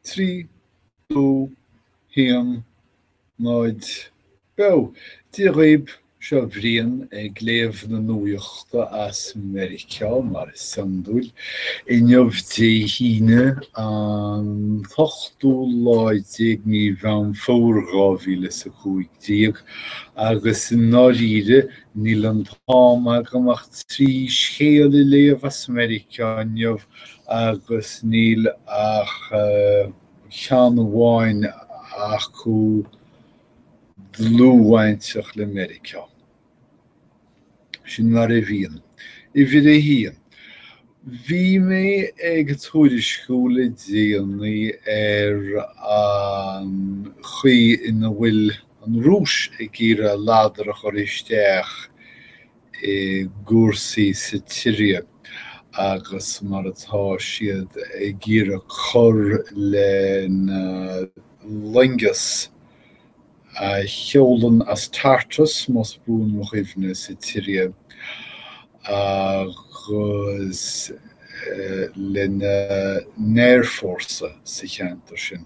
3 2 1 0 Beo! Dia dhaoib, seo Brian ag léamh na nuaíochta as Meiriceá, mar is iondúil, inniu Dé hAoine, an t-ochtú lá déag mí Mheán Fómhair dhá mhíle is a cúig déag, agus i ndáiríre, níl an t-am agam ach trí scéal a léamh as Meiriceá inniu, agus níl ach ceann amháin acu dlúthbhainteach le Meiriceá. Sin mar a bhíonn. Uimhir a haon, bhí mé ag tuairisciú le déanaí ar an chaoi ina bhfuil an Rúis ag iarraidh a ladar a chur isteach i gcúrsaí sa tSiria agus mar atá siad ag iarraidh cur lena loingeas a sheolann as Tartus, más buan mo chuimhne, sa tSiria agus lena n-aerfhórsa sa cheantar sin.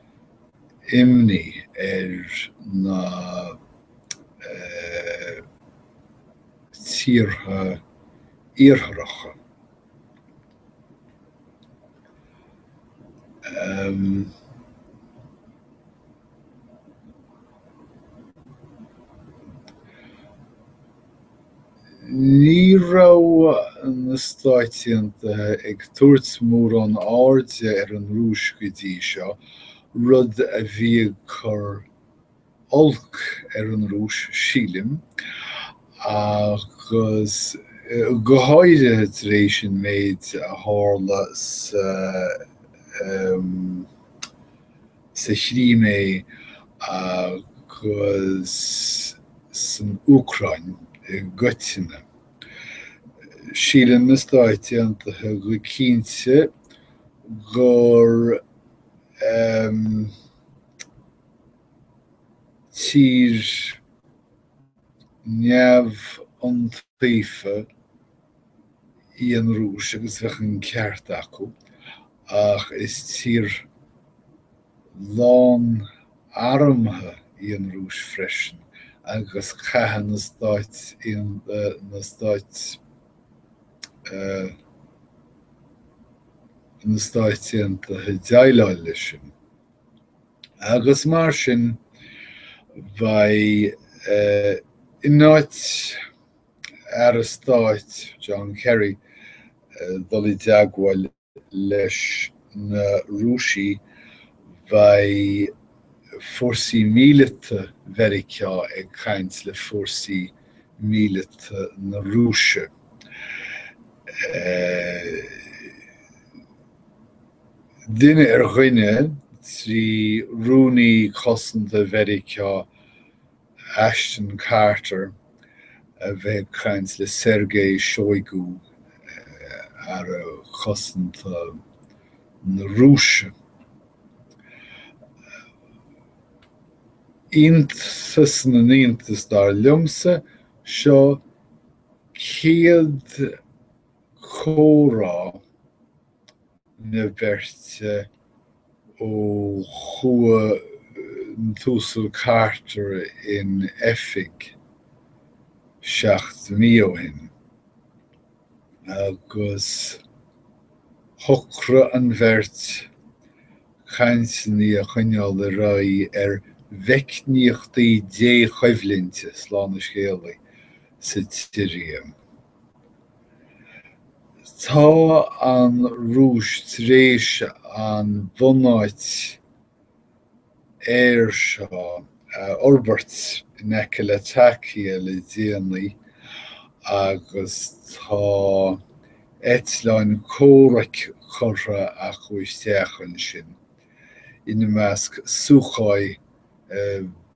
imní ar na tíortha iartharacha Ní raibh na Stáit Aontaithe ag tabhairt mórán airde ar an Rúis go dtí seo, rud a bhí ag cur olc ar an Rúis, sílim, agus go háirithe tar éis an méid a tharla sa sa Chrimé agus san Úcráin i gcoitinne. Síleann na Stáit Aontaithe go cinnte gur tír. neamhiontaofa í an Rúis agus bheadh an ceart acu, ach is tír lán armtha í an Rúis freisin agus caithfidh na Stáit na Stáit na Stáit Aontaithe déileáil leis sin. agus mar sin beidh in áit an Aire Stáit John Kerry dul i dteagmháil leis na Rúisigh beidh fórsaí míleata Mheiriceá ag caint le fórsaí míleata na Rúise. Duine ar dhuine, trí Rúnaí Cosanta Mheiriceá Ashton Carter a bheith ag caint le Sergei Shoigu, Aire Cosanta na Rúise. Iontas na n-iontas, dar liomsa, seo an chéad comhrá na beirte ó chuaigh an tUasal Carter in oifig seacht mí ó shin, agus shocraigh an bheirt cainteanna a choinneáil ar aghaidh ar mheicníochtaí dí-choimhlinte, slán a scéalaí, sa tSiria. Tá an Rúis tar éis an bhunáit aeir seo a fhorbairt in aice Latakia le déanaí agus tá eitleáin comhraic curtha acu isteach ansin, ina measc Sukhoi 27.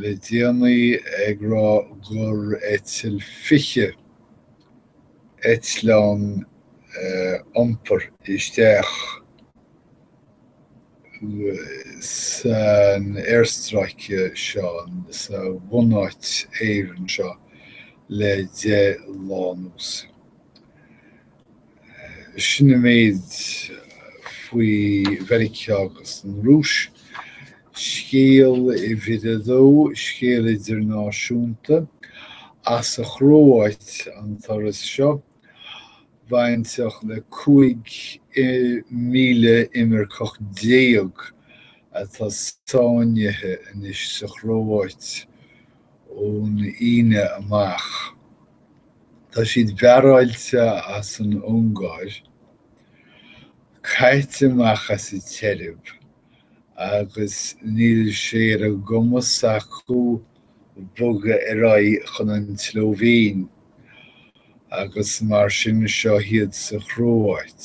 le déanaí ag rá gur eitil 20 eitleán iompair isteach san aerstráice seo, sa bhunáit aeir seo, le deich lá anuas. Sin an méid faoi Mheiriceá agus an Rúis. Scéal uimhir a dó, scéal idirnáisiúnta. As an Chróáit an turas seo. Bainteach le 15,000 imirceach atá sáinnithe anois sa Chróáit ón Aoine amach. Tá siad bearáilte as an Ungáir, caite amach as an tSeirbia, agus níl sé ar a gcumas acu bogadh ar aghaidh chun an tSlóivéin, agus mar sin seo iad sa Chróáit.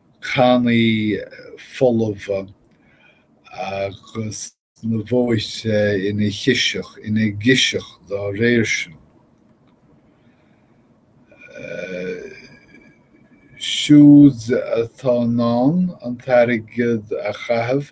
cannaí folmha agus na bóithre ina chiseach, ina gciseach dá réir sin. Siúd atá in ann an t-airgead a chaitheamh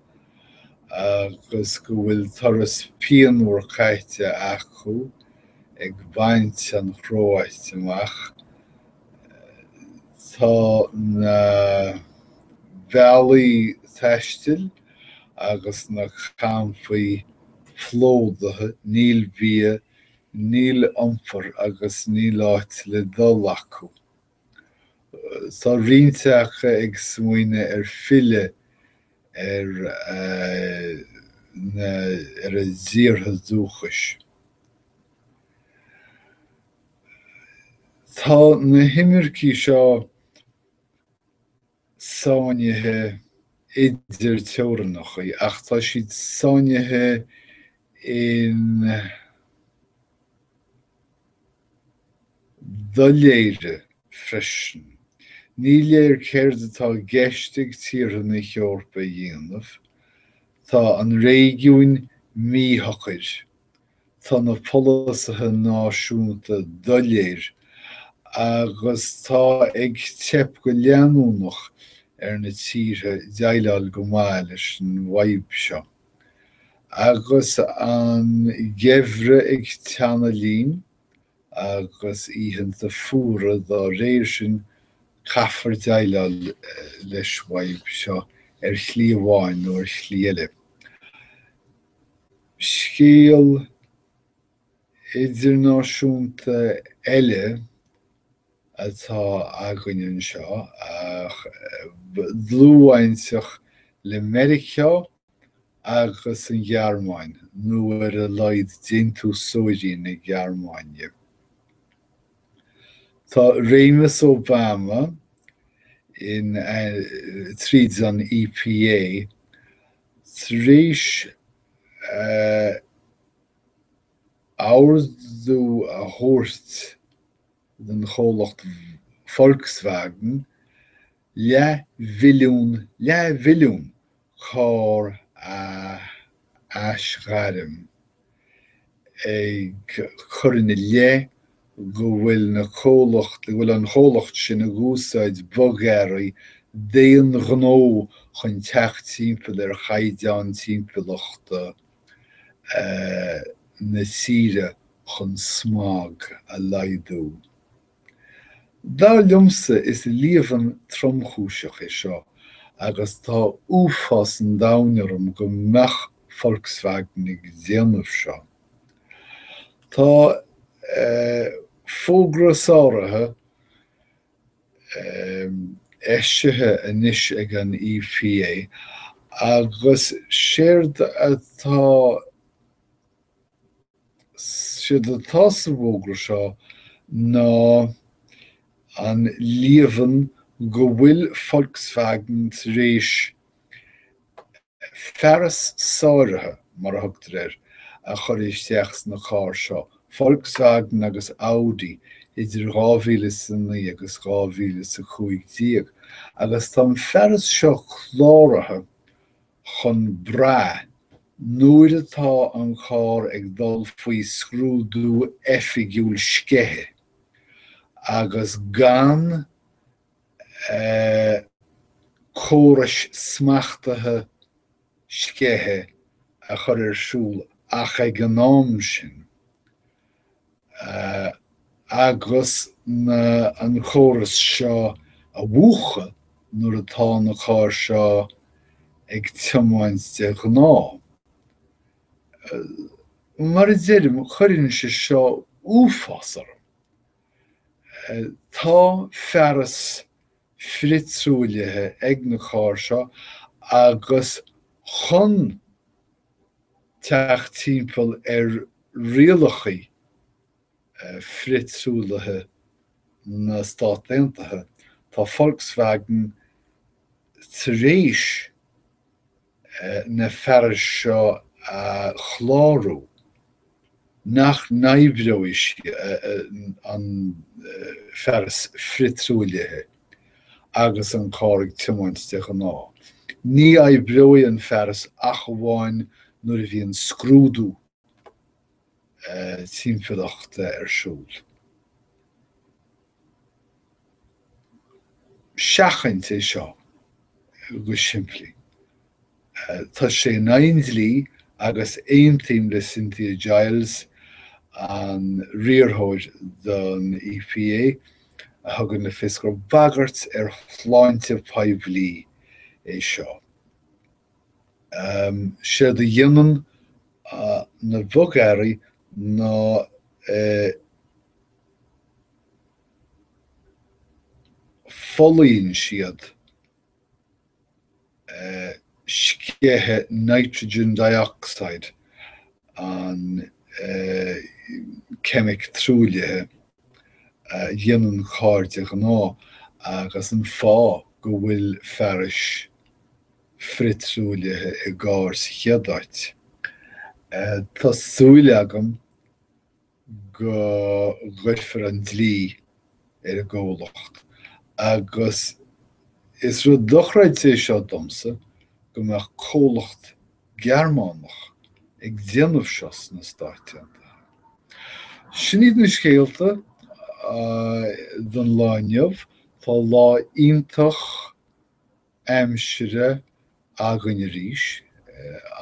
agus go bhfuil turas pianmhar caite acu ag baint an Chróit amach, tá na bealaí taistil agus na campaí plódaithe, níl bia, níl iompar agus níl áit le dul acu. Tá roinnt acu ag smaoineamh ar filleadh ar na ar a dtíortha dúchais. Tá na himircigh seo sáinnithe idir teorannachaí ach tá siad sáinnithe in doiléire freisin. Ní léir céard atá i gceist ag tíortha na hEorpa a dhéanamh. Tá an réigiúin míshocair Tá na polasaithe náisiúnta doiléir agus tá ag teip go leanúnach ar na tíortha déileáil go maith leis an bhfadhb seo. Agus an geimhreadh ag teannadh linn, agus oícheanta fuara dá réir sin, caithfear déileáil leis bhfadhb seo ar shlí amháin nó ar shlí eile. Scéal idirnáisiúnta eile atá againn anseo, ach dlúthbhainteach le Meiriceá agus an Ghearmáin, nó ar a laghad déantúsóirí na Gearmáine. Tá réimeas Obama, tríd an EPA, Tar éis ordú a thabhairt do chomhlacht Volkswagen leathmhilliún leathmhilliún carr a aisghairm, ag cur ina leith go bhfuil na comhlacht, go bhfuil an comhlacht sin ag úsáid bogearraí d'aon ghnó chun teacht timpeall ar chaighdeán timpeallachta na tíre chun smog a laghdú. Dar liomsa is líomhain tromchúiseach é seo agus tá uafás an domhain orm go mbeadh Volkswagen ag déanamh seo. Tá fógra sáraithe eisithe anois ag an EPA agus séard atá séard atá sa bhfógra seo ná an líomhain go bhfuil Volkswagen tar éis fearas sáraithe, mar a thugtar air, a chur isteach sna cairr seo, Volkswagen agus Audi, idir 2000 is a naoi agus 2000 is a cúig déag, agus tá an fearas seo cláraithe chun brath, nuair atá an carr ag dul faoi scrúdú oifigiúil sceithe, agus gan na córais smachtaithe sceithe a chur ar siúl ach ag an am sin. agus an córas seo a mhúchadh nuair atá na cairr seo ag tiomáint de ghnáth. Mar a deirim, cuireann sé seo uafás orm. Tá fearas frithruaillithe ag na cairr seo agus chun teacht timpeall ar rialacha frithruaillithe na Stát Aontaithe, tá Volkswagen tar éis na fearais seo a chlárú nach n-oibreoidh an fearas frithruaillithe agus an carr ag tiomáint de ghnáth. Ní oibreoidh an fearas ach amháin nuair a bhíonn scrúdú timpeallachta ar siúl. seachaint é seo go simplí. Tá sé in aghaidh an dlí agus aontaím le Cynthia Giles, an riarthóir don EPA, a thugann le fios gur bagairt ar shláinte phoiblí é seo. Séard a dhéanann na bogearraí ná. Folaíonn siad sceitheadh nitrogen dioxide, an ceimic truaillithe a dhéanann cairr de ghnáth, agus an fáth go bhfuil fearais frith-truaillithe i gcarr sa chéad áit. Tá súil agam. go gcuirfear an dlí ar an gcomhlacht agus is rud dochreidte é seo domsa go mbeadh comhlacht Gearmánach ag déanamh seo sna Stáit Aontaithe. Sin iad na scéalta don lá inniu. Tá lá iontach aimsire againn arís,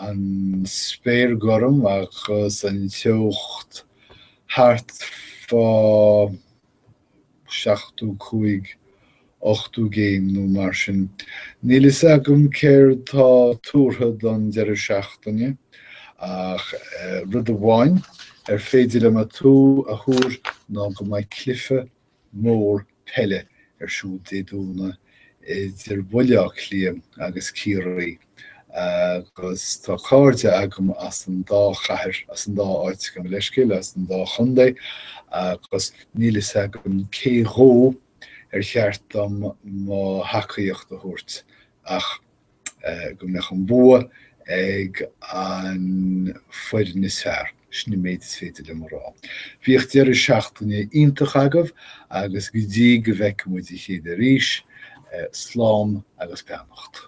an spéir gorm agus an teocht thart fá seachtó cúig, ochtó gcéim nó mar sin. Níl fhios agam céard tá tuartha don deireadh seachtaine ach rud amháin ar féidir liom a tú a thuar ná go mbeidh cluiche mór peile ar siúl Dé Domhnaigh idir Bhaile Átha Cliath agus Ciarraí agus tá cairde agam as an dá chathair, as an dá áit, gabh mo leithscéal, as an dá chontae agus níl a fhios agam cé dhó ar cheart dom mo thacaíocht a thabhairt ach go mbeadh an bua ag an foireann is fearr. Sin an méid is féidir liom a rá. Bíodh deireadh seachtaine iontach agaibh agus go dtí go bhfeicfidh muid a chéile arís, slán agus beannacht.